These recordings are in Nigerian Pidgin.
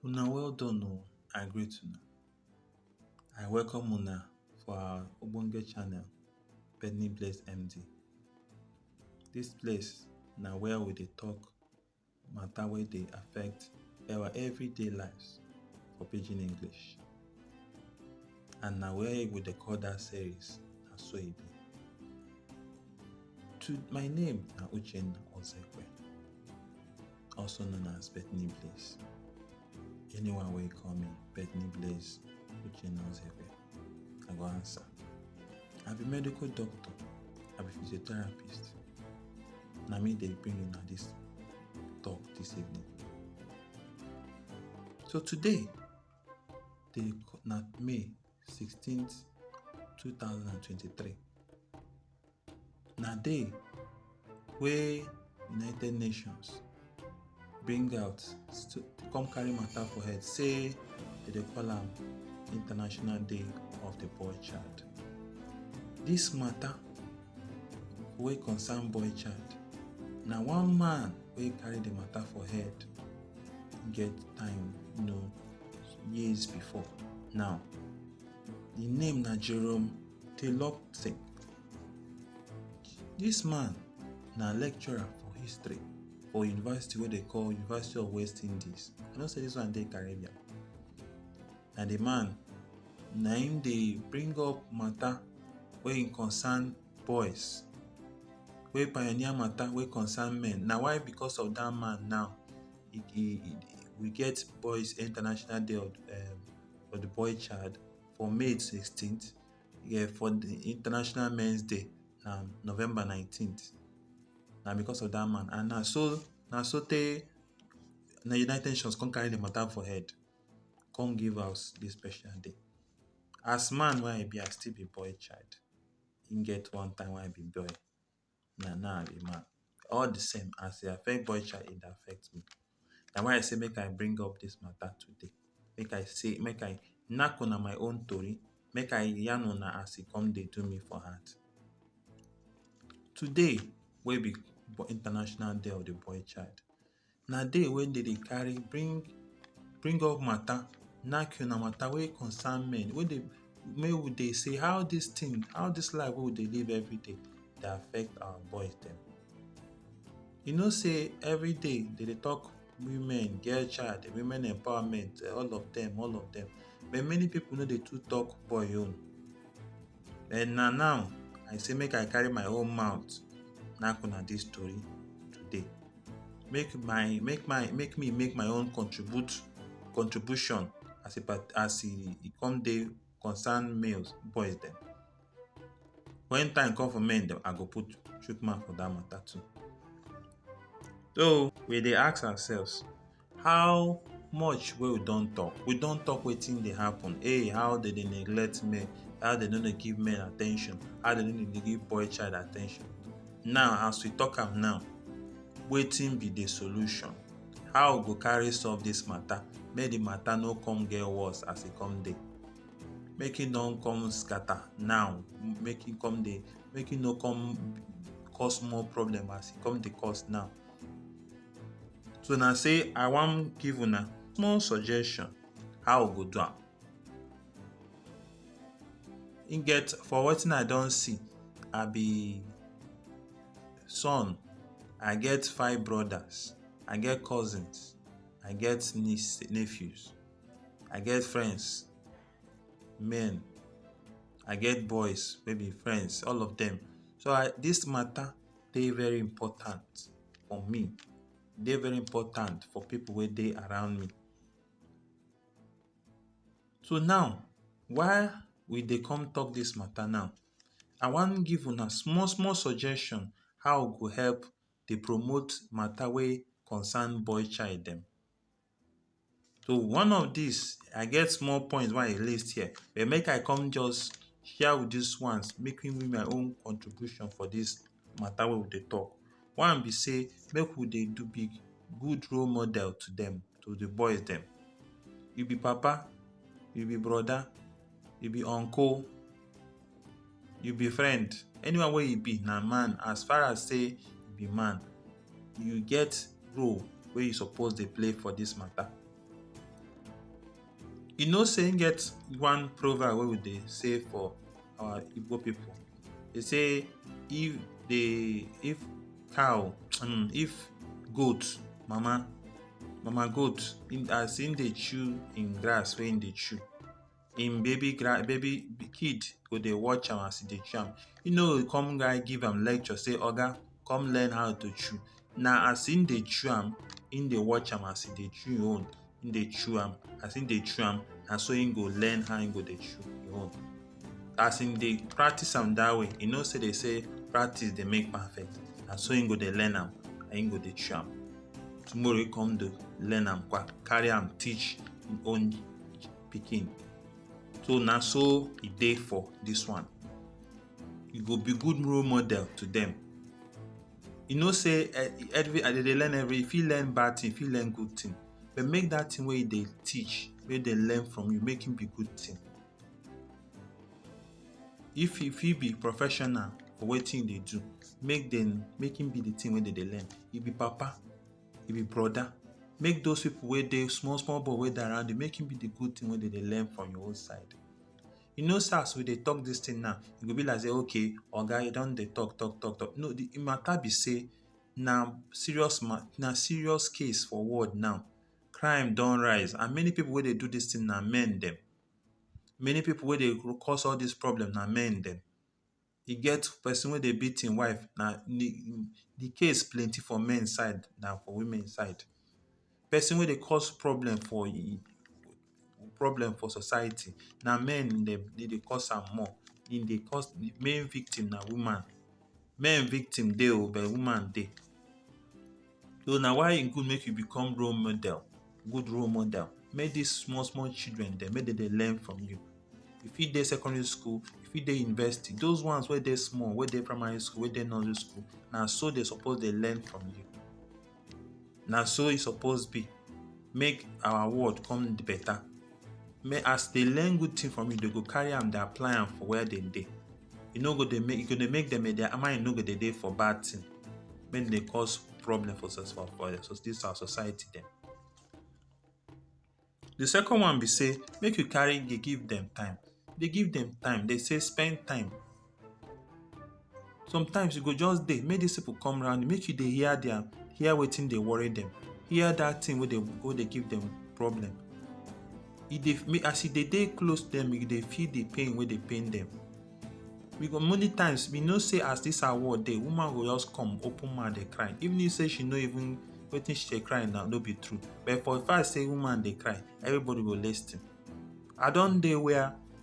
Una well done oh, I greet una. I welcome una for our ogbonge channel Benny Bless MD. Dis place na where we dey talk matter wey dey affect our everyday lives for pidgin english and na where we dey call that series na so e be to my name na uchenna ozekwe also known as bethany bliss Anyone wey call me Bethany Blaze Uchennaozepe, I go answer. I be medical doctor, I be physiotherapist. Na me dey bring una this talk this evening. So today, dey na May 16th, 2023. na day wey united nations bring out to come carry matter for head say dem dey call am international day of the boy child this matter wey concern boy child na one man wey carry the matter for head get time you know years before now the name na jerome dey lock thing. Dis man na lecturer for history for university wey dey call University of West Indies. I know say dis one dey Caribbean. Na the man na im dey bring up matter wey im concern boys wey pioneer matter wey concern men. Na why because of dat man now e e we get boys international day of um for the boy child. for May 16th, yeah, for the International Men's Day, na November 19th. Na because of that man. And na so na so tey na United Nations come carry the matter for head, come give us this special day. As man wey I be, I still be boy child. Im get one time wey I be boy. na now I be man. All the same, as e affect boy child, e dey affect me. Na why I say make I bring up dis matter today. Make I say make I knack una my own tori. Make I yarn una as e con dey do me for heart. Today wey be International Day of the Boy Child, Na day wey dem dey carry bring bring up matter knack una matter wey concern men wey dey make we dey see how dis thing how dis life wey we dey live everyday dey affect our boys dem. You know sey everyday dem dey talk women get child women empowerment all of dem all of dem but many pipu no dey too talk boy own. But na now I say make I carry my own mouth knack una this story today. Make my make my make me make my own contribute contribution as e part as e e come dey concern males boys dem. When time come for men dem I go put chook mouth for that matter too. So we dey ask ourselves How much wey we don talk? We don talk wetin dey happen. Hey, how dem dey neglect men, how dem no dey give men attention, how dem no dey give boy child attention. Now, as we talk am now, wetin be the solution? How we go carry solve this matter? Make the matter no come get worse as e come dey. Make e no come scatter now. Make e come dey, make e no come cause more problem as e come dey cause now. so na say i wan give una small suggestion how we go do am e get for wetin i don see i be son i get five brothers i get cousins i get niece nephews i get friends men i get boys wey be friends all of them so i this matter dey very important for me, e dey very important for pipu wey dey around me. So now why we dey come talk dis matter now, I wan give una small small suggestion how we go help dey promote matter wey concern boy child dem. So one of dis I get small point wey I list here but make I come just share with dis ones make we make my own contribution for dis matter wey we dey talk. One be sey make we dey do big good role model to dem to de boys dem. You be papa, you be brother, you be uncle you be friend anyone wey you be na man as far as say you be man you get role wey you suppose dey play for this matter you know say e get one proverb wey we dey say for our igbo people dey say if the if cow um, if goat mama mama goat as im dey chew im grass wey im dey chew im baby grand baby kid go dey watch am as e dey chew am e no go come guy give am lecture say oga come learn how to chew na as im dey chew am im dey watch am as e dey chew im own im dey chew am as im dey chew am na so im go learn how im go dey chew im own as im dey practice am that way e know say dey say practice dey make perfect na so im go dey learn am and im go dey chew am tomorrow e come do learn am kwa carry am teach im own pikin so na so e dey for this one you go be good role model to them you know say eh, every i dey learn every if you learn bad thing if you learn good thing but make that thing where they teach where they learn from you make him be good thing if if you be professional for what thing they do make them make him be the thing where they learn you be papa e be broda make those people wey dey small small boy wey dey around you make him be the good thing wey dey dey learn from your own side you know say as we dey talk this thing now e go be like say okay oga you don dey talk talk talk talk no the matter be say na serious ma na serious case for world now crime don rise and many people wey dey do this thing na men dem many people wey dey cause all this problem na men dem e get person wey dey beat im wife na the case plenty for men side than for women side. Person wey dey cause problem for im problem for society na men dem dem dey cause am more. E dey cause the main victim na woman. Men victim dey oh but woman dey. So na why e good make you become role model, good role model. Make dis small small children dem make dem dey learn from you. You fit dey secondary school, you fit dey university. Those ones wey dey small, wey dey primary school, wey dey nursery school, na so dem suppose dey learn from you. Na so e suppose be. Make our world come better. Make as dem learn good thing from you, dem go carry am dey apply am for where dem dey. e no go dey make e go dey make dem their mind no go dey dey for bad thing make dey cause problem for sus for for this our society dem. The second one be sey make you carry dey give dem time dey give dem time dey say spend time sometimes you go just dey make this people come round you make you dey hear their hear wetin dey worry dem hear that thing wey dey wey dey give dem problem. e dey make as e dey dey close dem you dey feel the pain wey dey pain dem we go many times we know say as this our world dey woman go just come open mouth dey cry even if say she no even wetin she dey cry now no be true but for the fact say woman dey cry everybody go lis ten i don dey where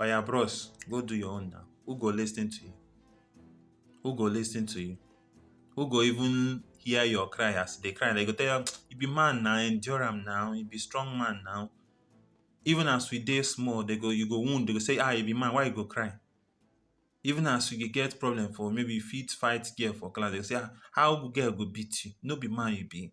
Oya bros, go do your own now. Who go listen to you? Who go listen to you? Who go even hear your cry as they cry? They go tell you, you be man now, endure am now, you be strong man now. Even as we dey small, they go, you go wound, they go say, ah, you be man, why you go cry? Even as you get problem for maybe you fit fight girl for class, they go say, ah, how girl go beat you? No be man you be.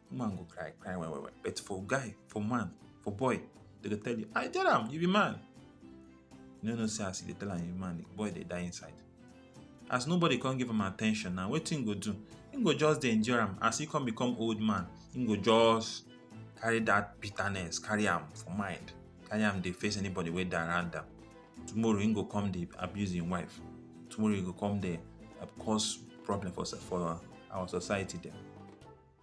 woman go cry cry well well well but for guy for man for boy they go tell you i tell am you be man you no know say as you dey tell am you be man the boy dey die inside as nobody come give am attention na wetin him go do him go just dey endure am as he come become old man him go just carry that bitterness carry am for mind carry am dey face anybody wey dey around am tomorrow him go come dey abuse him wife tomorrow he go come dey cause problem for for our society dem.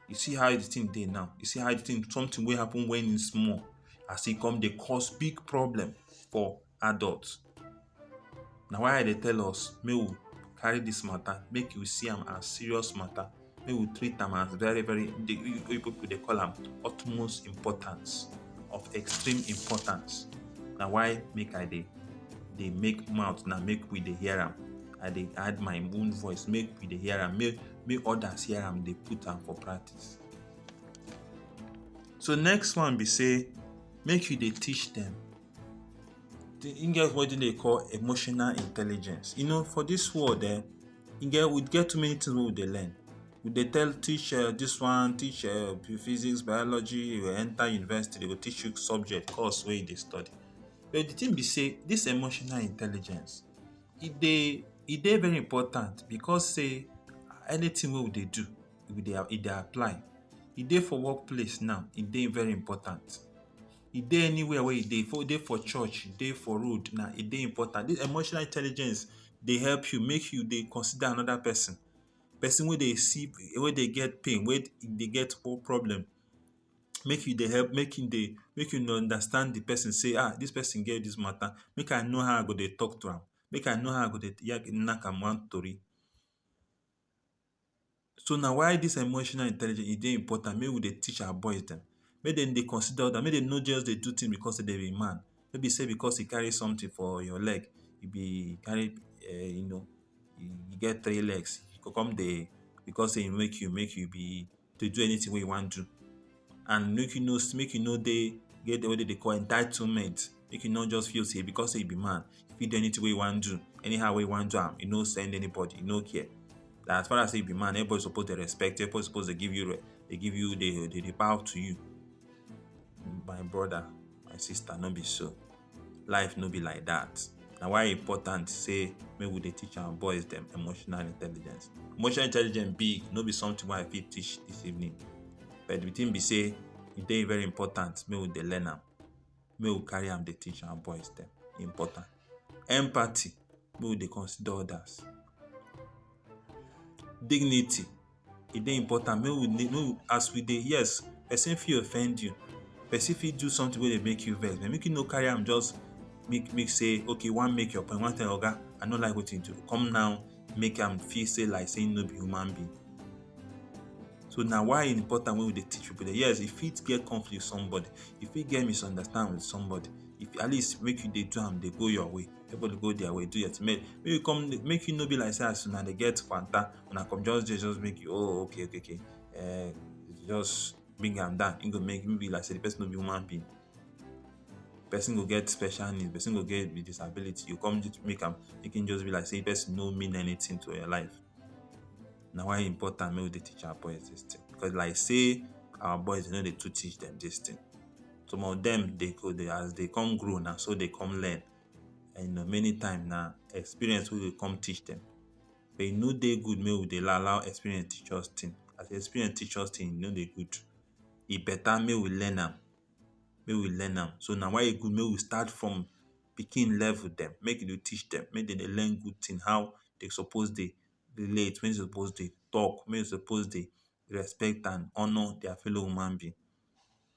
you see how the thing dey now you see how the thing something wey happen when e small as e come dey cause big problem for adult na why i dey tell us make we carry this matter make we see am as serious matter make we treat am as very very the oyibo people dey call am utmost importance of extreme importance na why make i dey dey make mouth na make we dey hear am i dey add my own voice make we dey hear am make make others hear am dey put am for practice. So next one be sey make you dey teach dem. E get wetin dem dey call emotional intelligence. You know for dis world um e get we get too many things wey we dey learn. We dey tell teach um dis one, teach um physics, biology, you go enter university dey go teach you subject, course wey you dey study. But de thing be sey dis emotional intelligence E dey e dey very important because sey anything wey we dey do we dey e dey apply. E dey for work place now, e dey very important. E dey anywhere wey e dey. E dey for church, e dey for road na e dey important. Dis emotional intelligence dey help you make you dey consider another pesin. Pesin wey dey see wey dey get pain, wey dey get problem. make you dey help make you dey make you dey understand the person sey um this person get this matter make I know how I go dey talk to am make I know how I go dey knack am one tori so na why this emotional intelligence e dey important make we dey teach our boys dem make dem dey consider others make dem no just dey do things because sey dem be man no be sey because you carry something for your leg you be carry um you get three legs you go come dey because sey e make you make you be to do anything wey you wan do and make you no make you no dey get wetin dem dey call entitlement make you no just feel say because say you be man you fit do anything wey you wan do anyhow wey you wan do am you no send anybody you no care na as far as say you be man everybody suppose dey respect you everybody suppose dey give you dey give you dey dey bow to you My brother, my sister, no be so. Life no be like that. Na why e important say make we dey teach our boys dem emotional intelligence. Emotional intelligence big, no be something wey I fit teach this evening. But the thing be say e dey very important make we dey learn am. make we carry am dey teach our boys dem e important empathy make we dey consider others dignity e dey important make we dey make we as we dey yes person fit offend you person fit do something wey dey make you vex but make you no carry am just make make say okay you wan make your point you wan tell your oga i no like wetin you do come now make am feel say like say him no be human being. So na why e important when we dey teach people that yes, e fit get conflict with somebody, e fit get misunderstand with somebody. If at least make you dey do am dey go your way, everybody go their way, do your thing. Make make you come make you no be like say as una dey get kwanta, una come just dey just make you oh okay okay okay um just bring am down. E go make be like say the person no be human being. person go get special need, person go get with disability, you come just make am make him just be like sey the person no mean anything to your life. Na why e important make we dey teach our boys dis thing. Because like sey our boys no dey too teach dem dis thing. Some of dem dey go dey as dey con grow na so dey con learn. And na many times na experience wey go come teach dem. E no dey good make we dey allow allow experience teach us thing. As experience teach us thing, e no dey good. E better make we learn am. make we learn am so na why e good make we start from pikin level dem make we dey teach dem make dem dey learn good thing how dem suppose dey relate make dem suppose dey talk make dem suppose dey respect and honour their fellow human being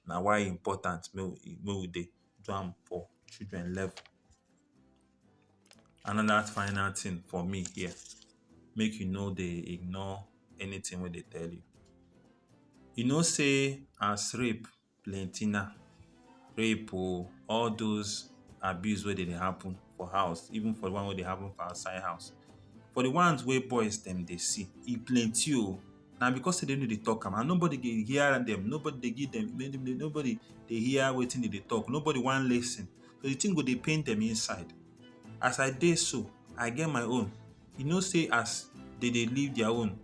na why e important make we dey do am for children level. Another final thing for me here, make you no dey ignore anything wey dey tell you. You know sey as rape plenty now, rape oh, all those abuse wey dey dey happen for house, even for the one wey dey happen for outside house. For the ones wey boys dem dey see, e plenty oh. Na because sey dem no dey talk am and nobody dey hear dem. Nobody dey give dem nobody dey hear wetin dem dey talk. Nobody wan lis ten. So the thing go dey pain dem inside. As I dey so, I get my own. You know say as they dey live their own,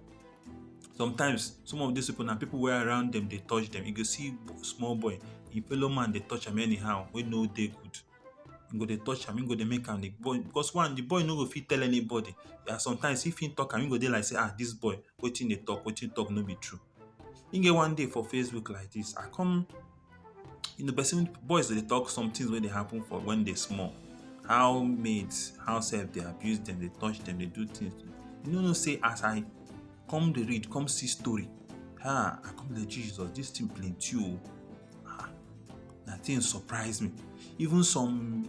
sometimes some of these people na people wey around them dey touch them. You go see small boy, e fellow man dey touch am anyhow wey no dey good. E go dey touch am, e go dey make am dey boil because one, the boy no go fit tell anybody. And sometimes if im talk am, e go dey like say ah this boy, wetin e dey talk, wetin e talk no be true. e get one day for facebook like this i come you know person boys dey talk some things wey dey happen for when they small how maids how sef dey abuse them dey touch them dey do things you no know say as i come dey read come see story ah i come dey jesus this thing plenty o ah na thing surprise me even some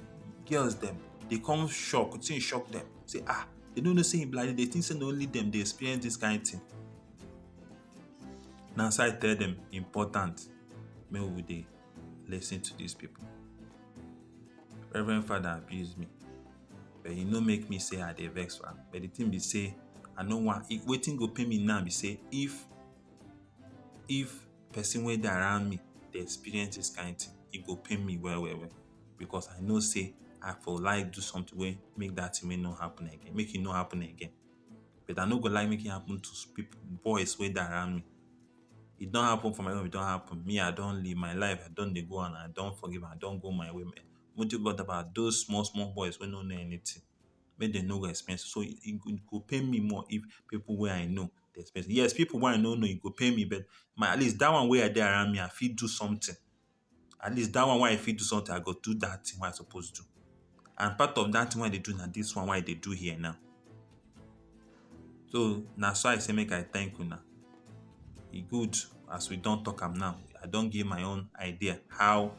girls dem dey come shock thing shock dem say ah they no know say e be like this they think say na only dem dey experience this kind thing na so i tell dem important make we dey lis ten to these people reverend father abuse me but e no make me say i dey vex for am but the thing be say i no wan if wetin go pain me now be say if if person wey dey around me dey experience this kind thing e go pain me well well well because i know say i for like do something wey make that thing wey no happen again make e no happen again but I no go like make e happen to pipu boys wey dey around me. E don happen for my own, e don happen. Me I don live my life, I don dey go and I don forgive and I don go my way. Those small small boys wey no know anything, make dem no go experience am. So, e go pain me more if pipu wey I know dey experience am. Yes, pipu wey I no know, e go pain me but at least dat one wey I dey around me, I fit do something. At least dat one wey I fit do something, I go do dat thing wey I suppose do. And part of dat thing wey I dey do na dis one wey I dey do here now. So, na so I say make I thank una. E good as we don talk am now, I don give my own idea how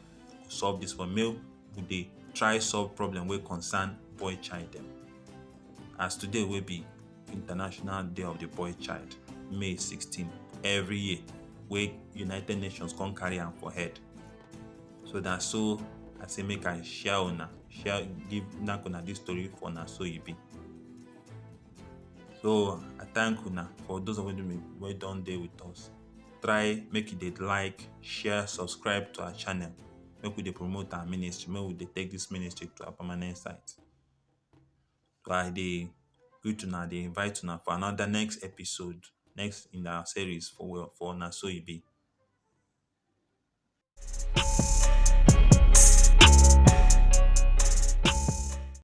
to solve dis one. Make we dey try solve problem wey concern boy child dem. As today wey be International Day of the Boy Child, May 16, every year, where United Nations come carry am for head. So na so I say make I share una, share give knack una this story for na so e be. So I thank una for those of you wey- wey don dey with us. Try make you dey like, share, subscribe to our channel. Make we dey promote our ministry, make we dey take this ministry to our permanent site. I dey greet una dey invite una for another next episode next in our series for we for na so e be.